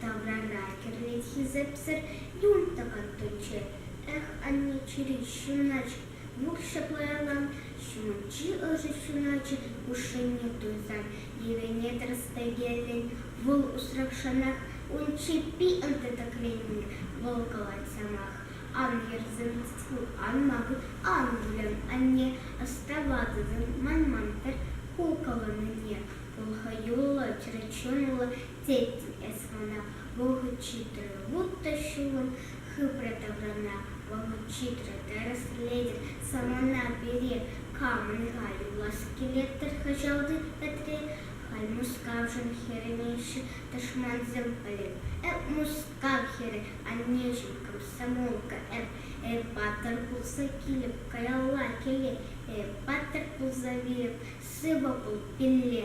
таврара кӗрлет хисепсӗр юн тӑкаттӑччӗ. Эх, анне, чӗри ҫуначчӗ, вуҫҫӗ пуялан, ҫумӗнчи ӑшӑ ҫуначӗ хушшине туйсан йӗвене тӗрӗс пӗкеллӗн, вӑл усрахшӑнах ун чӗппи ӑнтӑ-тӗкленнӗ, вӑл калать самах. Ан ерсемест ку, ан макӑр, ан выльӑн, анне, ӑставатӑн, манман-тӗр ку кӑлӑннине. Хӑл хӑюллӑ, чӗрчунлӑ, Тет эс мана, вӑхӑт ҫитрӗ вутта ҫулӑм, хыпрӗ таврана. Вӑхӑт ҫитрӗ, тӗрӗслетӗр самана пире, камӑн-ха юлас килет-тӗр кӑҫалти ӗтре? Халь Мускавшӑн хӗрӗнеҫҫӗ тӑшмансем, пӗлеп эп Мускав хӗрӗ, аннеҫӗм комсомолка эп, эп паттӑр пулса килӗп каялла, кӗле, эп паттӑр пулса вилӗп, сывӑ пул, пилле!